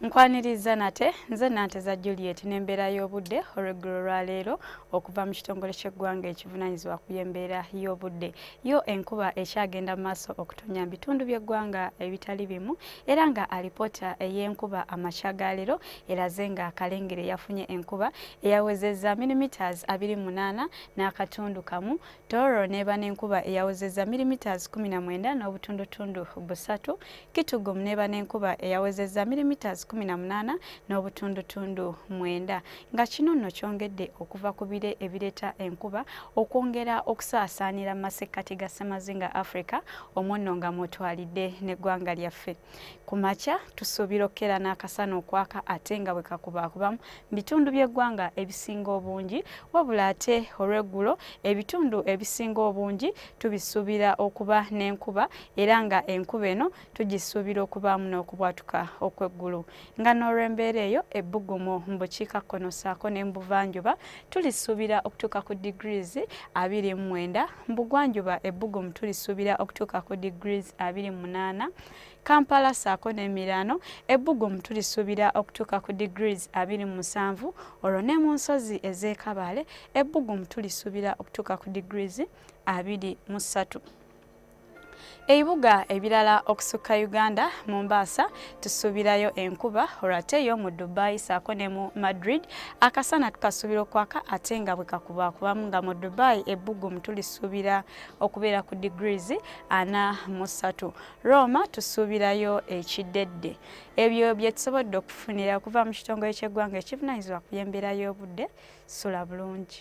Nkwanirizza nate nze Nanteza Juliet n'embeera y'obudde olweggulo lwa leero okuva mu kitongole ky'eggwanga ekivunaanyizibwa ku by'embeera y'obudde. Yo enkuba ekyagenda mu maaso okutonnya mu bitundu by'eggwanga ebitali bimu era nga alipoota ey'enkuba amakya ga leero eraze nga Kalengere yafunye enkuba eyawezezza milimetres abiri munaana n'akatundu kamu, Tooro n'eba n'enkuba eyawezezza milimetres kkumi na mwenda n'obutundutundu busatu, Kitugu Muneba n'enkuba eyawezezza milimiters 18 n'obutundutundu mwenda nga kino nno kyongedde okuva ku bire ebireeta enkuba okwongera okusaasaanira mu masekkati ga ssemazinga Africa omwo nno nga mwotwalidde n'eggwanga lyaffe. Ku makya tusuubira okukeera n'akasana okwaka ate nga bwe kakubaakubamu mu bitundu by'eggwanga ebisinga obungi wabula ate olw'eggulo ebitundu ebisinga obungi tubisuubira okuba n'enkuba era nga enkuba eno tugisuubira okubaamu n'okubwatuka okw'eggulu nga n'olw'embeera eyo ebbugumu mu bukiikakkono ssaako ne mu buvanjuba tulisuubira okutuuka ku degrees abiri mu mwenda mu bugwanjuba ebbugumu tulisuubira okutuuka ku degrees abiri mu munaana Kampala saako n'emiraano ebbugumu tulisuubira okutuuka ku degrees abiri mu musanvu olwo ne mu nsozi ez'e Kabale ebbugumu tulisuubira okutuuka ku degrees abiri mu ssatu. Ebibuga ebirala okusukka Uganda, Mombasa tusuubirayo enkuba olwate yo mu Dubai saako ne mu Madrid akasana tukasuubira okwaka ate nga bwe kakuba kubamu nga mu Dubai ebbugumu tulisuubira okubeera ku degrees ana mu ssatu. Roma tusuubirayo ekiddedde. Ebyo bye tusobodde okufunira okuva mu kitongole ky'eggwanga ekivunaanyizibwa ku by'embeera y'obudde sula bulungi.